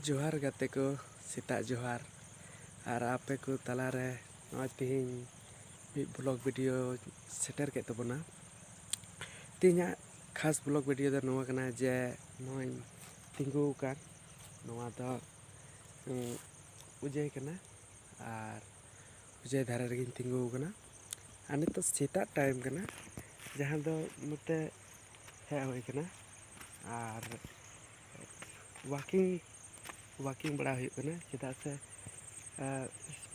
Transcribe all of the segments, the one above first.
ᱡᱚᱦᱟᱨ ᱜᱟᱛᱮ ᱠᱚ ᱥᱮᱛᱟᱜ ᱡᱚᱦᱟᱨ ᱟᱨ ᱟᱯᱮ ᱠᱚ ᱛᱟᱞᱟ ᱨᱮ ᱱᱚᱜᱼᱚᱭ ᱛᱮᱦᱮᱧ ᱢᱤᱫ ᱵᱞᱚᱜ ᱵᱷᱤᱰᱤᱭᱳ ᱥᱮᱴᱮᱨ ᱠᱮᱫ ᱛᱟᱵᱚᱱᱟ ᱛᱮᱦᱮᱧᱟᱜ ᱠᱷᱟᱥ ᱵᱞᱚᱜ ᱵᱷᱤᱰᱤᱭᱳ ᱫᱚ ᱱᱚᱣᱟ ᱠᱟᱱᱟ ᱡᱮ ᱱᱚᱜᱼᱚᱭ ᱛᱤᱸᱜᱩ ᱟᱠᱟᱱ ᱱᱚᱣᱟ ᱫᱚ ᱩᱡᱟᱹᱭ ᱠᱟᱱᱟ ᱟᱨ ᱩᱡᱟᱹᱭ ᱫᱷᱟᱨᱮ ᱨᱮᱜᱮᱧ ᱛᱤᱸᱜᱩ ᱟᱠᱟᱱᱟ ᱟᱨ ᱱᱤᱛᱚᱜ ᱥᱮᱛᱟᱜ ᱴᱟᱭᱤᱢ ᱠᱟᱱᱟ ᱡᱟᱦᱟᱸ ᱫᱚ ᱱᱚᱛᱮ ᱦᱮᱡ ᱦᱩᱭ ᱠᱟᱱᱟ ᱟᱨ ᱳᱣᱟᱠᱤᱝ ᱳᱣᱟᱠᱤᱝ ᱵᱟᱲᱟ ᱦᱩᱭᱩᱜ ᱠᱟᱱᱟ ᱪᱮᱫᱟᱜ ᱥᱮ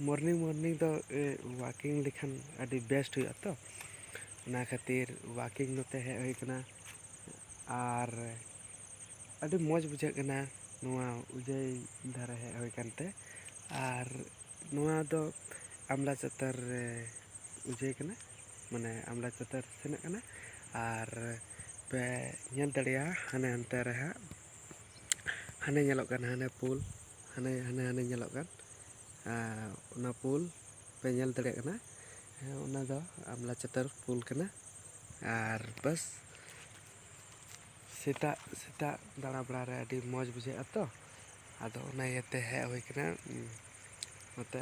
ᱢᱚᱨᱱᱤᱝ ᱢᱚᱨᱱᱤᱝ ᱫᱚ ᱳᱣᱟᱠᱤᱝ ᱞᱮᱠᱷᱟᱱ ᱟᱹᱰᱤ ᱵᱮᱥᱴ ᱦᱩᱭᱩᱜᱼᱟ ᱛᱚ ᱚᱱᱟ ᱠᱷᱟᱹᱛᱤᱨ ᱳᱣᱟᱠᱤᱝ ᱱᱚᱛᱮ ᱦᱮᱡ ᱦᱩᱭ ᱠᱟᱱᱟ ᱟᱨ ᱟᱹᱰᱤ ᱢᱚᱡᱽ ᱵᱩᱡᱷᱟᱹᱜ ᱠᱟᱱᱟ ᱱᱚᱣᱟ ᱩᱡᱟᱹᱭ ᱫᱷᱟᱨᱮ ᱦᱮᱡ ᱦᱩᱭ ᱠᱟᱱᱛᱮ ᱟᱨ ᱱᱚᱣᱟ ᱫᱚ ᱟᱢᱲᱟ ᱪᱟᱛᱟᱨ ᱨᱮ ᱵᱩᱡᱷᱟᱹᱣ ᱠᱟᱱᱟ ᱢᱟᱱᱮ ᱟᱢᱲᱟ ᱪᱟᱛᱟᱨ ᱥᱮᱱᱚᱜ ᱠᱟᱱᱟ ᱟᱨ ᱯᱮ ᱧᱮᱞ ᱫᱟᱲᱮᱭᱟᱜᱼᱟ ᱦᱟᱱᱮ ᱦᱟᱱᱛᱮ ᱨᱮ ᱦᱟᱸᱜ ᱦᱟᱱᱮ ᱧᱮᱞᱚᱜ ᱠᱟᱱ ᱦᱟᱱᱮ ᱯᱳᱞ ᱦᱟᱱᱮ ᱦᱟᱱᱮ ᱦᱟᱱᱮ ᱧᱮᱞᱚᱜ ᱠᱟᱱ ᱚᱱᱟ ᱯᱳᱞ ᱯᱮ ᱧᱮᱞ ᱫᱟᱲᱮᱭᱟᱜ ᱠᱟᱱᱟ ᱦᱮᱸ ᱚᱱᱟ ᱫᱚ ᱟᱢᱲᱟ ᱪᱟᱛᱟᱨ ᱯᱳᱞ ᱠᱟᱱᱟ ᱟᱨ ᱵᱟᱥ ᱥᱮᱛᱟᱜ ᱥᱮᱛᱟᱜ ᱫᱟᱬᱟ ᱵᱟᱲᱟ ᱨᱮ ᱟᱹᱰᱤ ᱢᱚᱡᱽ ᱵᱩᱡᱷᱟᱹᱜᱼᱟ ᱛᱚ ᱟᱫᱚ ᱚᱱᱟ ᱤᱭᱟᱹᱛᱮ ᱦᱮᱡ ᱦᱩᱭ ᱠᱟᱱᱟ ᱱᱚᱛᱮ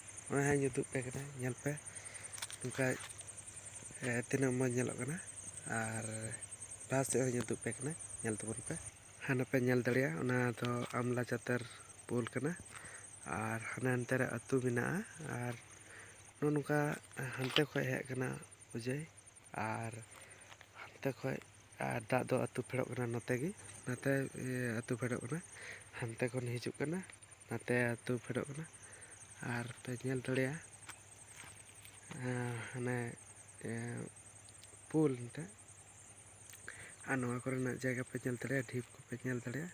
ᱱᱚᱜᱼᱚᱭ ᱦᱟᱸᱜ ᱤᱧ ᱩᱫᱩᱜ ᱯᱮ ᱠᱟᱱᱟ ᱧᱮᱞ ᱯᱮ ᱱᱚᱝᱠᱟ ᱛᱤᱱᱟᱹᱜ ᱢᱚᱡᱽ ᱧᱮᱞᱚᱜ ᱠᱟᱱᱟ ᱟᱨ ᱞᱟᱦᱟ ᱥᱮᱫ ᱦᱚᱸᱧ ᱩᱫᱩᱜ ᱯᱮ ᱠᱟᱱᱟ ᱧᱮᱞ ᱛᱟᱵᱚᱱ ᱯᱮ ᱦᱟᱱᱟ ᱯᱮ ᱧᱮᱞ ᱫᱟᱲᱮᱭᱟᱜᱼᱟ ᱚᱱᱟ ᱫᱚ ᱟᱢᱞᱟ ᱪᱟᱛᱟᱨ ᱯᱳᱞ ᱠᱟᱱᱟ ᱟᱨ ᱦᱟᱱᱮ ᱦᱟᱱᱛᱮ ᱨᱮ ᱟᱹᱛᱩ ᱢᱮᱱᱟᱜᱼᱟ ᱟᱨ ᱱᱚᱜᱼᱚ ᱱᱚᱝᱠᱟ ᱦᱟᱱᱛᱮ ᱠᱷᱚᱱ ᱦᱮᱡ ᱠᱟᱱᱟ ᱚᱡᱚᱭ ᱟᱨ ᱦᱟᱱᱛᱮ ᱠᱷᱚᱡ ᱟᱨ ᱫᱟᱜ ᱫᱚ ᱟᱹᱛᱩ ᱯᱷᱮᱰᱚᱜ ᱠᱟᱱᱟ ᱱᱚᱛᱮ ᱜᱮ ᱱᱟᱛᱮ ᱟᱹᱛᱩ ᱯᱷᱮᱰᱚᱜ ᱠᱟᱱᱟ ᱦᱟᱱᱛᱮ ᱠᱷᱚᱱ ᱦᱤᱡᱩᱜ ᱠᱟᱱᱟ ᱱᱟᱛᱮ ᱟᱹᱛᱩ ᱯᱷᱮᱰᱚᱜ ᱠᱟᱱᱟ ᱟᱨ ᱯᱮ ᱧᱮᱞ ᱫᱟᱲᱮᱭᱟᱜᱼᱟ ᱦᱟᱱᱮ ᱯᱳᱞ ᱢᱤᱫᱴᱮᱡ ᱟᱨ ᱱᱚᱣᱟ ᱠᱚᱨᱮᱱᱟᱜ ᱡᱟᱭᱜᱟ ᱯᱮ ᱧᱮᱞ ᱫᱟᱲᱮᱭᱟᱜᱼᱟ ᱰᱷᱤᱯ ᱠᱚᱯᱮ ᱧᱮᱞ ᱫᱟᱲᱮᱭᱟᱜᱼᱟ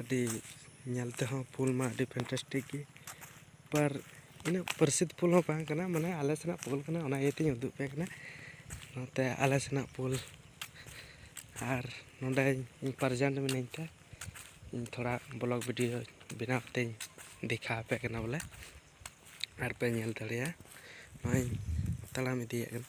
ᱟᱹᱰᱤ ᱧᱮᱞ ᱛᱮᱦᱚᱸ ᱯᱷᱩᱞ ᱢᱟ ᱟᱹᱰᱤ ᱯᱷᱮᱱᱴᱟᱥᱴᱤᱠ ᱜᱮ ᱯᱟᱨ ᱤᱱᱟᱹᱜ ᱯᱟᱹᱨᱥᱤᱛ ᱯᱷᱩᱞ ᱦᱚᱸ ᱵᱟᱝ ᱠᱟᱱᱟ ᱢᱟᱱᱮ ᱟᱞᱮ ᱥᱮᱱᱟᱜ ᱯᱷᱩᱞ ᱠᱟᱱᱟ ᱚᱱᱟ ᱤᱭᱟᱹ ᱛᱤᱧ ᱩᱫᱩᱜ ᱟᱯᱮ ᱠᱟᱱᱟ ᱱᱚᱛᱮ ᱟᱞᱮ ᱥᱮᱱᱟᱜ ᱯᱷᱩᱞ ᱟᱨ ᱱᱚᱰᱮ ᱤᱧ ᱯᱨᱮᱡᱮᱱᱴ ᱢᱤᱱᱟᱹᱧ ᱛᱮ ᱤᱧ ᱛᱷᱚᱲᱟ ᱵᱞᱚᱜᱽ ᱵᱷᱤᱰᱭᱳ ᱵᱮᱱᱟᱣ ᱠᱟᱛᱮᱧ ᱫᱮᱠᱷᱟᱣ ᱟᱯᱮ ᱠᱟᱱᱟ ᱵᱚᱞᱮ ᱟᱨ ᱯᱮ ᱧᱮᱞ ᱫᱟᱲᱮᱭᱟᱜᱼᱟ ᱱᱚᱜᱼᱚᱸᱭ ᱛᱟᱲᱟᱢ ᱤᱫᱤᱭᱮᱫ ᱠᱟᱱᱟ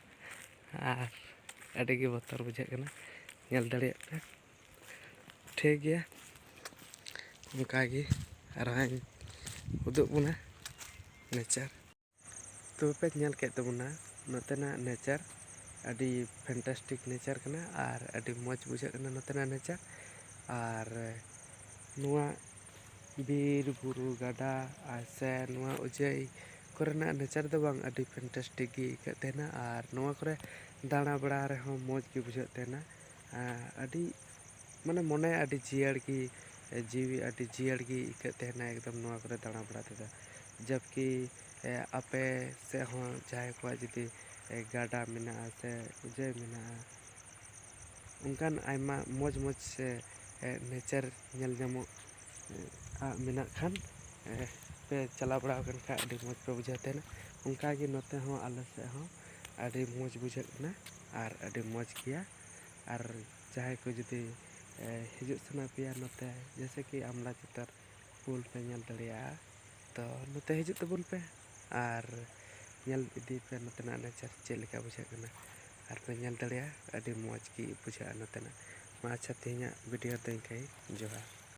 ᱟᱨ ᱟᱹᱰᱤ ᱜᱮ ᱵᱚᱛᱚᱨ ᱵᱩᱡᱷᱟᱹᱜ ᱠᱟᱱᱟ ᱧᱮᱞ ᱫᱟᱲᱮᱭᱟᱜ ᱯᱮ ᱴᱷᱤᱠ ᱜᱮᱭᱟ ᱚᱱᱠᱟᱜᱮ ᱟᱨᱦᱚᱸᱧ ᱩᱫᱩᱜ ᱵᱚᱱᱟ ᱱᱮᱪᱟᱨ ᱛᱚᱵᱮ ᱯᱮ ᱧᱮᱞ ᱠᱮᱫ ᱛᱟᱵᱚᱱᱟ ᱱᱚᱛᱮᱱᱟᱜ ᱱᱮᱪᱟᱨ ᱟᱹᱰᱤ ᱯᱷᱮᱱᱴᱟᱥᱴᱤᱠ ᱱᱮᱪᱟᱨ ᱠᱟᱱᱟ ᱟᱨ ᱟᱹᱰᱤ ᱢᱚᱡᱽ ᱵᱩᱡᱷᱟᱹᱜ ᱠᱟᱱᱟ ᱱᱚᱛᱮᱱᱟᱜ ᱱᱮᱪᱟᱨ ᱟᱨ ᱱᱚᱣᱟ ᱵᱤᱨ ᱵᱩᱨᱩ ᱜᱟᱰᱟ ᱟᱨ ᱥᱮ ᱱᱚᱣᱟ ᱚᱡᱚᱭ ᱠᱚᱨᱮᱱᱟᱜ ᱱᱮᱪᱟᱨ ᱫᱚ ᱵᱟᱝ ᱟᱹᱰᱤ ᱯᱷᱮᱱᱴᱮᱥᱴᱤᱠ ᱜᱮ ᱟᱹᱭᱠᱟᱹᱜ ᱛᱟᱦᱮᱱᱟ ᱟᱨ ᱱᱚᱣᱟ ᱠᱚᱨᱮ ᱫᱟᱬᱟ ᱵᱟᱲᱟ ᱨᱮᱦᱚᱸ ᱢᱚᱡᱽ ᱜᱮ ᱵᱩᱡᱷᱟᱹᱜ ᱛᱟᱦᱮᱱᱟ ᱟᱹᱰᱤ ᱢᱟᱱᱮ ᱢᱚᱱᱮ ᱟᱹᱰᱤ ᱡᱤᱭᱟᱹᱲ ᱜᱮ ᱡᱤᱣᱤ ᱟᱹᱰᱤ ᱡᱤᱭᱟᱹᱲ ᱜᱮ ᱟᱹᱭᱠᱟᱹᱜ ᱛᱟᱦᱮᱱᱟ ᱮᱠᱫᱚᱢ ᱱᱚᱣᱟ ᱠᱚᱨᱮ ᱫᱟᱬᱟ ᱵᱟᱲᱟ ᱛᱮᱫᱚ ᱡᱟᱵᱽᱠᱤ ᱟᱯᱮ ᱥᱮᱫ ᱦᱚᱸ ᱡᱟᱦᱟᱸᱭ ᱠᱚᱣᱟᱜ ᱡᱩᱫᱤ ᱜᱟᱰᱟ ᱢᱮᱱᱟᱜᱼᱟ ᱥᱮ ᱡᱮ ᱢᱮᱱᱟᱜᱼᱟ ᱚᱱᱠᱟᱱ ᱟᱭᱢᱟ ᱢᱚᱡᱽ ᱢᱚᱡᱽ ᱥᱮ ᱱᱮᱪᱟᱨ ᱧᱮᱞ ᱧᱟᱢᱚᱜ ᱟᱜ ᱢᱮᱱᱟᱜ ᱠᱷᱟᱱ ᱯᱮ ᱪᱟᱞᱟᱣ ᱵᱟᱲᱟ ᱟᱠᱟᱱ ᱠᱷᱟᱡ ᱟᱹᱰᱤ ᱢᱚᱡᱽ ᱯᱮ ᱵᱩᱡᱷᱟᱹᱣ ᱛᱟᱦᱮᱱᱟ ᱚᱱᱠᱟ ᱜᱮ ᱱᱚᱛᱮ ᱦᱚᱸ ᱟᱞᱮ ᱥᱮᱫ ᱦᱚᱸ ᱟᱹᱰᱤ ᱢᱚᱡᱽ ᱵᱩᱡᱷᱟᱹᱜ ᱠᱟᱱᱟ ᱟᱨ ᱟᱹᱰᱤ ᱢᱚᱡᱽ ᱜᱮᱭᱟ ᱟᱨ ᱡᱟᱦᱟᱸᱭ ᱠᱚ ᱡᱩᱫᱤ ᱦᱤᱡᱩᱜ ᱥᱟᱱᱟ ᱯᱮᱭᱟ ᱱᱚᱛᱮ ᱡᱮᱭᱥᱮ ᱠᱤ ᱟᱢᱲᱟ ᱪᱟᱛᱟᱨ ᱯᱩᱞ ᱯᱮ ᱧᱮᱞ ᱫᱟᱲᱮᱭᱟᱜᱼᱟ ᱛᱚ ᱱᱚᱛᱮ ᱦᱤᱡᱩᱜ ᱛᱟᱵᱚᱱ ᱯᱮ ᱟᱨ ᱧᱮᱞ ᱤᱫᱤ ᱯᱮ ᱱᱚᱛᱮᱱᱟᱜ ᱱᱮᱪᱟᱨ ᱪᱮᱫ ᱞᱮᱠᱟ ᱵᱩᱡᱷᱟᱹᱜ ᱠᱟᱱᱟ ᱟᱨ ᱯᱮ ᱧᱮᱞ ᱫᱟᱲᱮᱭᱟᱜᱼᱟ ᱟᱹᱰᱤ ᱢᱚᱡᱽ ᱜᱮ ᱵᱩᱡᱷᱟᱹᱜᱼᱟ ᱱᱚᱛᱮᱱᱟᱜ ᱢᱟ ᱟᱪᱪᱷᱟ ᱛᱮᱦᱮᱧᱟᱜ ᱵᱷᱤᱰᱤᱭᱳ ᱫᱚ ᱤᱱᱠᱟᱹ ᱜᱮ ᱡᱚᱦᱟᱨ